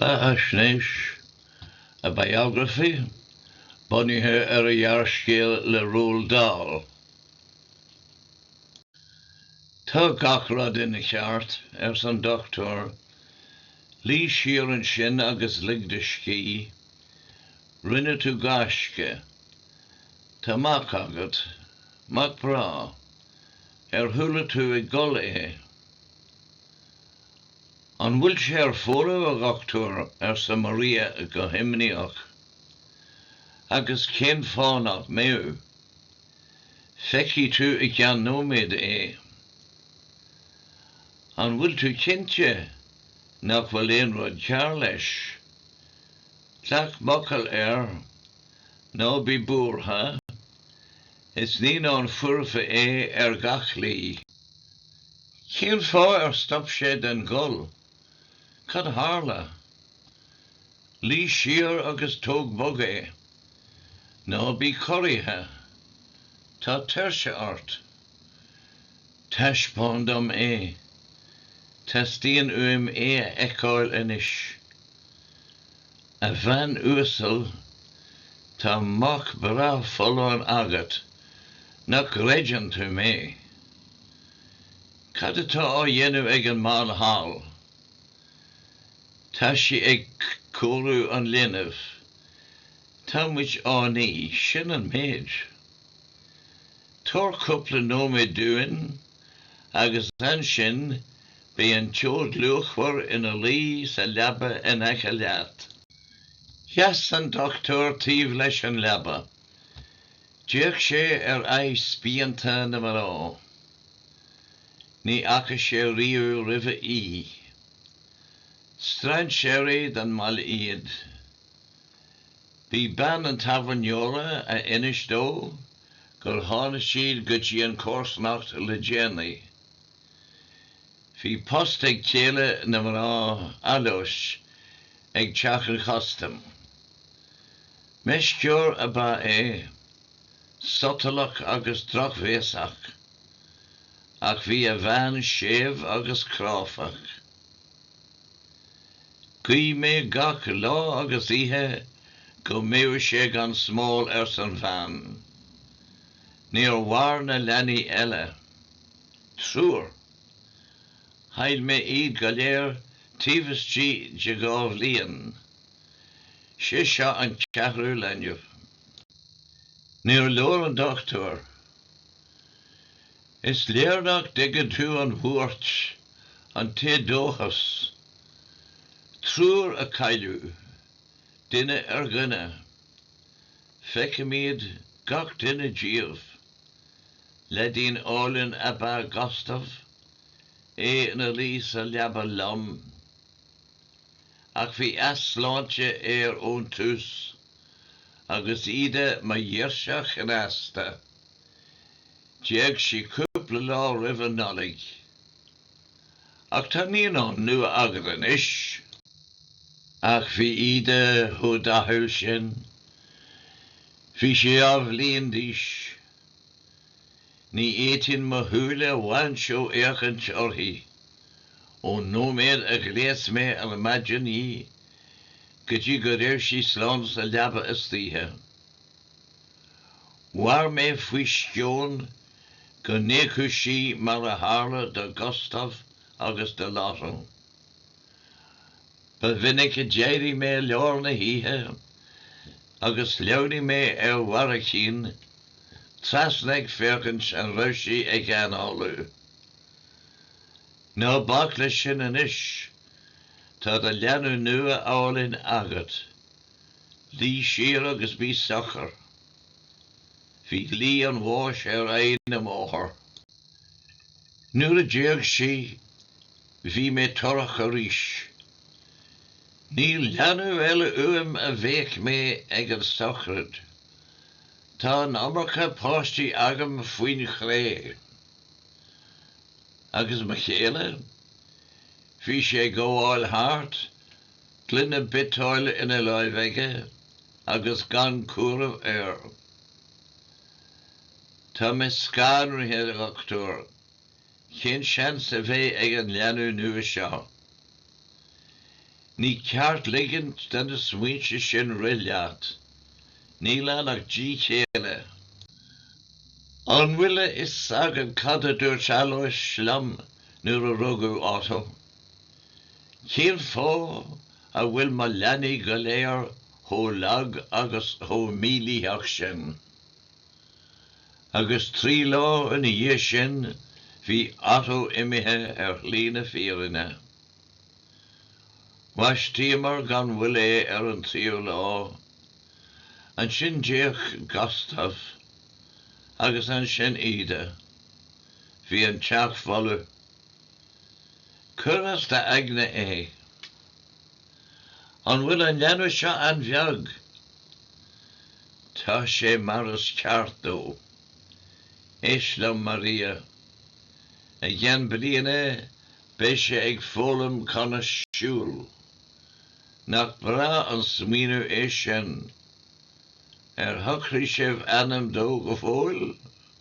Beathaisnéis, A Biography, bunaithe ar ghearrscéal le Roald Dahl. Tá gach rud ina cheart, arsa an dochtúir. Luí siar ansin agus lig do scíth. Rinne tú gaisce. Tá mac agat. Mac breá. Ar chuala tú ag gol é? An bhfuil sé ar fónamh, a dhochtúir? arsa Maria go himníoch. Agus cén fáth nach mbeadh? Feicfidh tú i gceann nóiméad é. An bhfuil tú cinnte nach bhfuil aon rud cearr leis? Glac m'fhocal air, ná bí buartha, is naíonán foirfe é ar gach slí. Cén fáth ar stop sé den ghol? Cad a tharla? Luigh siar agus tóg bog é. Ná bí corraithe. Tá tuirse ort. Taispeáin dom é. Teastaíonn uaim é a fheiceáil anois. A bhean uasal, tá mac breá folláin agat. Nach gcreideann tú mé? Cad atá á dhéanamh ag an mbean thall? Tá sí ag cóiriú an linbh. Tá muid á ní, sin an méid. Tabhair cúpla nóiméad dúinn agus ansin beidh an tseoid luachmhar ina luí sa leaba in aice leat. Sheas an dochtúir taobh leis an leaba. D'fhéach sé ar aghaidh spíonta na mná. Ní fhaca sé riamh roimhe í. Strainséirí don mbaile iad. B'í bean an tábhairneora a inis dó gur tháinig siad go dtí an chomharsanacht le déanaí. Bhí post ag céile na mná Aloys ag Teach an Chustaim. Meisceoir ab ea é, sotalach agus drochbhéasach, ach bhí a bhean séimh agus cráifeach. Ghuigh mé gach lá agus oíche go mbeadh sé gan smál, arsa an bhean. Níor mhair na leanaí eile. Triúr. Chaill mé iad go léir taobh istigh de dhá bhliain. 'Sé seo an ceathrú leanbh. Níor labhair an dochtúir. Is léir nach dtuigeann tú an bhuairt, an t-éadóchas. Triúr a cailleadh, duine ar dhuine. Feicim iad, gach duine díobh. Leaidín álainn ab ea Gustav, é ina luí sa leaba liom. Ach bhí easláinte air ón tús, agus Ida, mo ghirseach chneasta, d'éag sí cúpla lá roimh an Nollaig. Ach tá naíonán nua agat anois. Ach bhí Ida chomh dathúil sin. Bhí sí dhá bhliain d'aois. Ní fhéadfainn mo shúile a bhaint ó fhéachaint uirthi, ón nóiméad a ghléas mé ar maidin í go dtí go raibh sí slán sa leaba istoíche. Mhair mé faoi sceon go n-éagfadh sí mar a tharla do Gustav agus do Laurin. Ba mhinic a d'éirigh mé i lár na hoíche agus shleamhnaigh mé ar bharraicín trasna ag féachaint an raibh sí ag análú. Ná bac leis sin anois, tá do leanbh nua álainn agat. Luigh siar agus bí socair. Bhí lí an bháis ar aghaidh na máthar. Nuair a d'éag sí, bhí mé torrach arís. Níl leanbh eile uaim a bhéic mé ag an sochraid. Tá an iomarca páistí agam faoin chré. Agus mo chéile? Bhí sé ag gabháil thart Gloine biotáil ina láimh aige agus gan cúram air. Tá mé scanraithe, a dhochtúir. Cén seans a bheidh ag an leanbh nua seo? Ní ceart ligint do na smaointe sin rith leat. Níl ann ach díth céille. An bhfuil a fhios agat cad a dúirt Alois liom nuair a rugadh Otto? Cén fáth a bhfuil mo leanaí go léir chomh lag agus chomh mílítheach sin? Agus trí lá ina dhiaidh sin bhí Otto imithe ar shlí na fírinne. Bhaistíomar gan mhoill é ar an tríú lá. Ansin d'éag Gustaf, agus ansin Ida. Bhí an teach folamh. Cuir as d'aigne é? An bhfuil an leanbh seo an-bheag? Tá sé mar is ceart dó. Éist liom, Maria. I gceann bliana beidh sé ag foghlaim conas siúl. Nach breá an smaoineamh é sin? Ar shocraigh sibh ainm dó go fóill?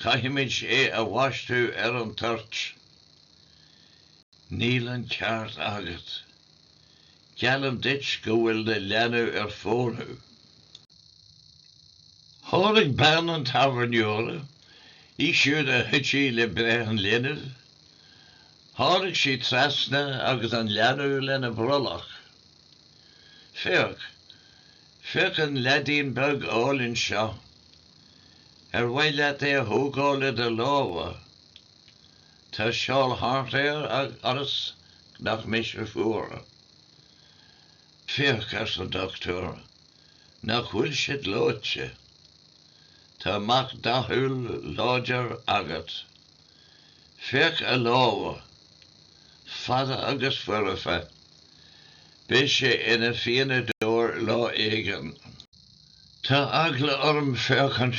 Caithfimid é a bhaisteadh ar an toirt. Níl an ceart agat. Geallaim duit go bhfuil an leanbh ar fónamh. Tháinig bean an tábhairneora, í siúd a chuidigh le breith an linbh, tháinig sí trasna agus an leanbh lena brollach. Féach, féach an leaidín beag álainn seo. Ar mhaith leat é a thógáil i do lámha? Tá seál thart air ionas nach mbeidh sé fuar. Féach, arsa an dochtúir, nach bhfuil sé gleoite. Tá mac dathúil láidir agat. Féach a lámha, fada agus foirfe. Beidh sé ina phianadóir lá éigin. Tá eagla orm féachaint.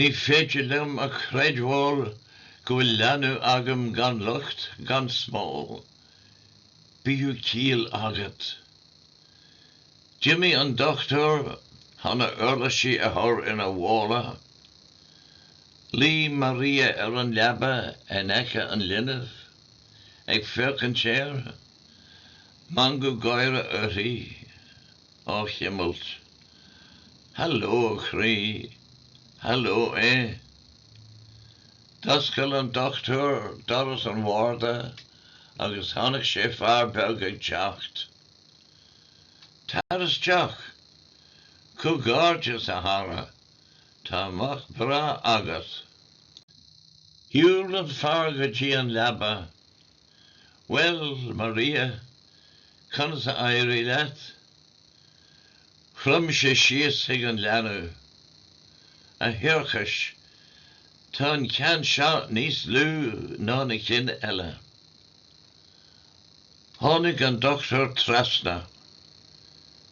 Ní féidir liom a chreidbheáil go bhfuil leanbh agam gan locht, gan smál. Bíodh ciall agat. D'imigh an dochtúir chun a uirlisí a chur ina mhála. Luigh Maria ar an leaba in aice an linbh, ag féachaint air. Meangadh gáire uirthi. á chuimilt. Haló, a chroí. Haló, a. D'oscail an dochtúir doras an bharda agus chonaic sé fear beag ag teacht. Tar isteach! Comhghairdeas, a chara, tá mac breá agat! Shiúil an fear go dtí an leaba Bhuel, Maria, conas a éirigh leat? Chrom sé síos chuig an leanbh. A thiarcais, tá an ceann seo níos lú ná na cinn eile. Tháinig an dochtúir trasna.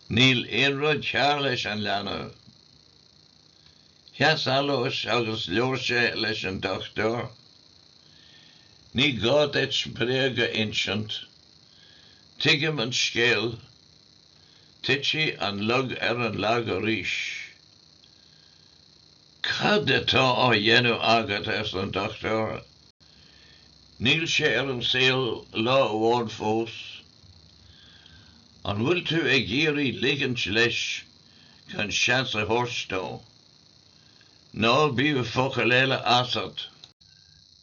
Níl aon rud cearr leis an leanbh. Sheas Aloys agus labhair sé leis an dochtúir. Ní gá duit bréag a insint. Tuigim an scéal. Titfidh an lug ar an lag arís. Cad atá á dhéanamh agat? arsa an dochtúir. Níl sé ar an saol lá amháin fós. An bhfuil tú ag iarraidh ligint leis gan seans a thabhairt dó. Ná bíodh focal eile asat.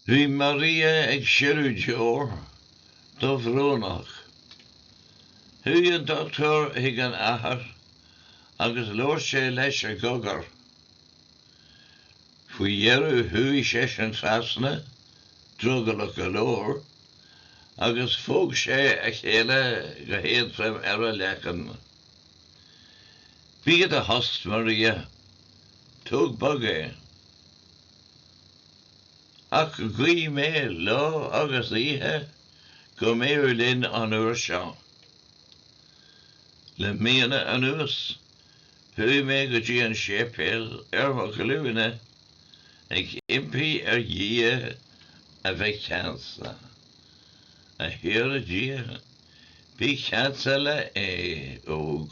Bhí Maria ag sileadh deor, dubhbhrónach. Chuaigh an dochtúir chuig an athair agus labhair sé leis i gcogar. Faoi dheireadh chuaigh seisean trasna, drogallach go leor, agus phóg sé a chéile go héadrom ar a leiceann. Bí i do thost, Maria. Tóg bog é. Ach ghuigh mé lá agus oíche go mbeadh linn an uair seo. Le míonna anuas chuaigh mé go dtí an séipéal ar mo ghlúine ag impí ar Dhia a bheith ceansa. A Thiarna Dia, Bí ceansa le A óg,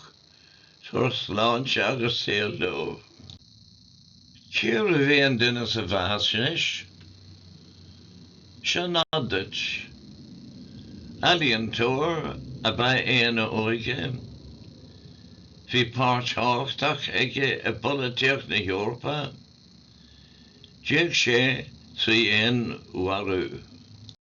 tabhair sláinte agus saol dó. Cérbh é an duine seo, meas anois? Seo nod duit. Ealaíontóir ab ea é ina óige. Bhí páirt thábhachtach aige i bpolaitíocht na hEorpa. D'éag sé trí fhéinmharú.